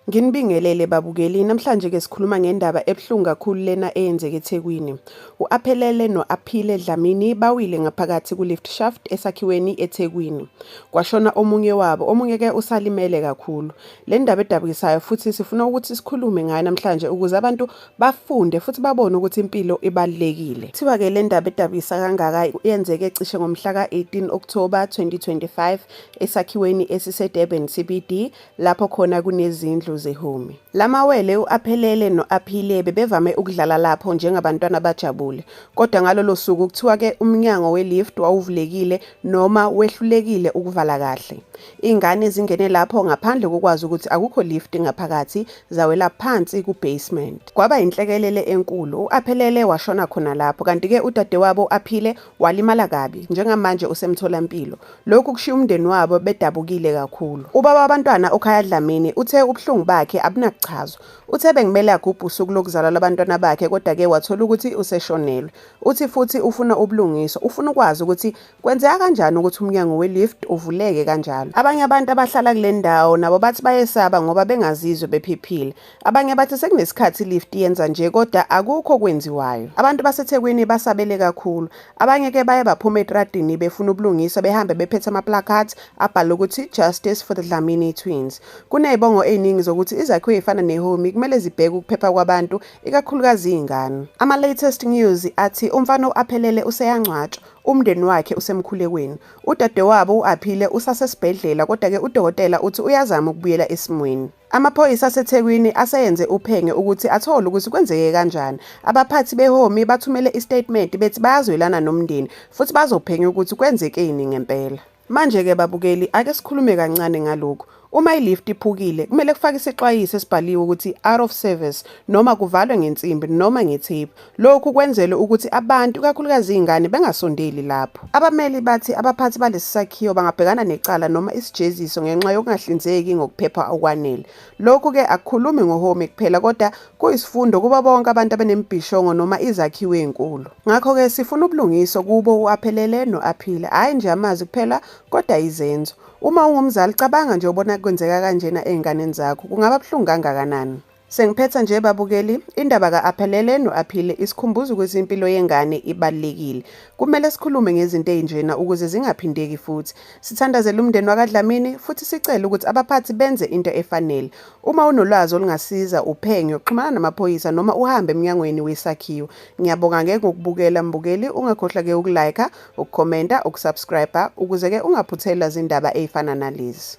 Nginibingelele babukeli, namhlanje ke sikhuluma ngendaba ebuhlungu kakhulu lena eyenzeke eThekwini. U-Aphelele no-Aphile Dlamini bawile ngaphakathi ku-lift shaft esakhiweni eThekwini. Kwashona omunye wabo, omunye ke usalimele kakhulu. Le ndaba edabukisayo futhi sifuna ukuthi sikhulume ngayo namhlanje ukuze abantu bafunde futhi babone ukuthi impilo ibalulekile kuthiwa ke le ndaba edabisa kangaka yenzeke cishe ngomhla ka-18 October 2025 esakhiweni esisedurban cbd lapho khona kunezindlu zehumi la mawele u-aphelele no-aphile bebevame ukudlala lapho njengabantwana abajabule kodwa ngalolo suku kuthiwa ke umnyango welift wawuvulekile noma wehlulekile ukuvala kahle ingane zingene lapho ngaphandle kokwazi ukuthi akukho lift ngaphakathi zawela phansi ku-basement. Kwaba yinhlekelele enkulu, u-Aphelele washona khona lapho kanti-ke udadewabo u-Aphile walimala kabi, njengamanje usemtholampilo. Lokhu kushiya umndeni wabo bedabukile kakhulu. Ubaba wabantwana uKhaya Dlamini uthe ubuhlungu bakhe abunakuchazwa. Uthe bekumele agubhe usuku lokuzalwa lwabantwana bakhe kodwa-ke wathola ukuthi useshonelwe. Uthi futhi ufuna ubulungiswa, ufuna ukwazi ukuthi Kwenzeka kanjani ukuthi umnyango we-lift uvuleke kanjalo? Abanye abantu abahlala kule ndawo nabo bathi bayesaba ngoba bengazizwe bephephile. Abanye bathi sekunesikhathi i-lift yenza nje kodwa akukho okwenziwayo. Abantu baseThekwini basabele kakhulu. Abanye ke baye baphuma etradini befuna ubulungiswa behambe bephethe ama-placards abhala ukuthi Justice for the Dlamini Twins. Kunezibongo eziningi zokuthi izakhiwo ezifana neHomi kumele zibheke ukuphepha kwabantu ikakhulukazi izingane. Ama-latest news athi umfana u-Aphelele useyangcwatshwa. Umndeni wakhe usemkhulekweni. Udadewabo u-Aphile usasesibhedlela kodwa-ke udokotela uthi uyazama ukubuyela esimweni. Amaphoyisa aseThekwini aseyenze uphenge ukuthi athole ukuthi kwenzeke kanjani. Abaphathi beHomi bathumele isitatimenti bethi bayazwelana nomndeni futhi bazophenya ukuthi kwenzekeni ngempela. Manje-ke babukeli, ake sikhulume kancane ngalokhu. Uma i-lift iphukile, kumele kufake isixwayiso esibhaliwe ukuthi out of service noma kuvalwe ngensimbi noma ngetheyipu. Lokhu kwenzelwe ukuthi abantu, ikakhulukazi izingane, bengasondeli lapho. Abameli bathi abaphathi balesi sakhiwo bangabhekana necala noma isijeziso ngenxa yokungahlinzeki ngokuphepha okwanele. Lokhu ke akukhulumi ngoHomi kuphela kodwa kuyisifundo kuba bonke abantu abanembhishongo noma izakhiwo ezinkulu. Ngakho ke sifuna ubulungiso kubo uAphelele noAphile, hayi nje amazwi kuphela kodwa izenzo. Uma ungumzali cabanga nje ubona kwenzeka kanjena ezinganeni zakho, kungaba buhlungu kangakanani. Sengiphetha nje babukeli, indaba ka-Aphelele no-Aphile isikhumbuza ukuthi impilo yengane ibalulekile. Kumele sikhulume ngezinto ezinjena ukuze zingaphindeki futhi. Sithandazela umndeni wakaDlamini futhi sicele ukuthi abaphathi benze into efanele. Uma unolwazi olungasiza uphenyo, xhumana namaphoyisa noma uhambe emnyangweni wesakhiwo. Ngiyabonga ngeke ngokubukela mbukeli, ungakhohlwa ke ukulike, ukukhomenta, ukusubscribe ukuze ke ungaphuthelwa zindaba ezifana nalezi.